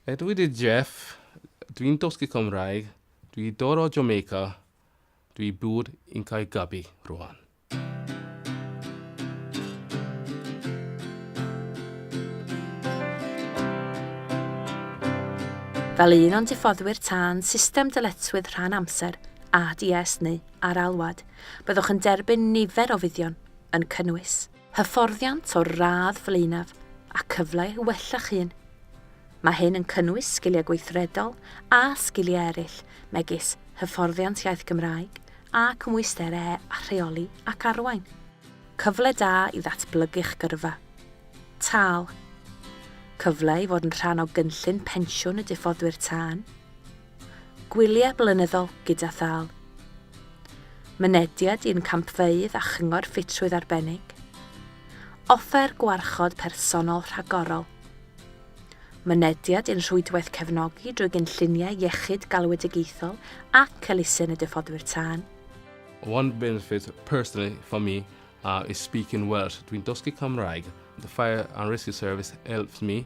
Ydw i di Jeff, dwi'n dosgu cymraeg, dwi dod o Jamaica, dwi bwyd yn cael gabi rwan. Fel un o'n diffoddwyr tân system dyletswydd rhan amser, ADS neu ar-alwad, byddwch yn derbyn nifer o fuddion, yn cynnwys. hyfforddiant o'r radd flaenaf a cyfle i wella'ch hun. Mae hyn yn cynnwys sgiliau gweithredol a sgiliau eraill megis hyfforddiant iaith Gymraeg a cymwysterau a rheoli ac arwain. Cyfle da i ddatblygu'ch gyrfa. Tâl. Cyfle i fod yn rhan o gynllun pensiwn y diffoddwyr tân. Gwyliau blynyddol gyda thâl. Mynediad i'n campfeydd a chyngor ffitrwydd arbennig. Offer gwarchod personol rhagorol. Mynediad i'n rhwydwaith cefnogi drwy gynlluniau iechyd galwedigaethol ac elusen y Diffoddwyr Tân. One benefit personally for me is speaking Welsh, dwi'n dysgu Cymraeg. The Fire and Rescue Service helps me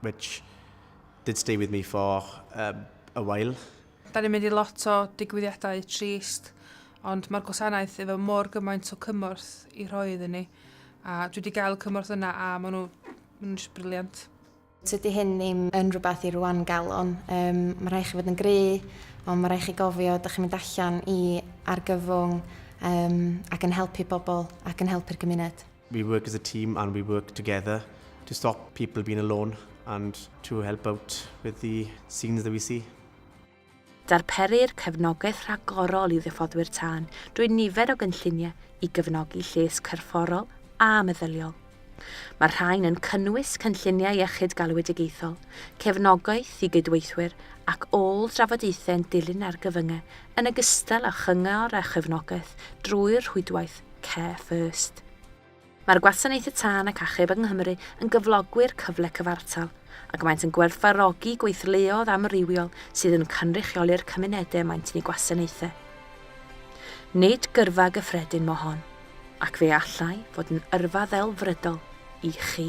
which did stay with me for um, a while. Da ni'n mynd i lot o digwyddiadau trist, ond mae'r gwasanaeth efo mor gymaint o cymorth i rhoi iddyn ni, a dwi wedi gael y cymorth yna a maen nhw, maen nhw jyst briliant. Tydy hyn ddim yn rhywbeth i rwan galon. Um, mae rhaid chi fod yn gry, ond mae rhaid chi gofio, da chi'n mynd allan i argyfwng um, ac yn helpu bobl ac yn helpu'r gymuned. We work as a team and we work together to stop people being alone and to help out with the scenes that we see. Darperir cefnogaeth rhagorol i ddiffoddwyr tân drwy nifer o gynlluniau i gefnogi lles cyrfforol a meddyliol. Mae'r rhain yn cynnwys cynlluniau iechyd galwedigaethol, cefnogaeth i gydweithwyr ac ôl drafodaethau'n dilyn argyfyngau yn ogystal â chyngor a chefnogaeth drwy'r rhwydwaith Care First. Mae'r Gwasanaethau Tân ac Achub yng Nghymru yn gyflogwyr cyfle cyfartal, ac maent yn gwerthfawrogi gweithleoedd amrywiol sydd yn cynrychioli'r cymunedau y maent yn eu gwasanaethu. Nid gyrfa gyffredin mo hon, ac fe allai fod yn yrfa ddelfrydol i chi.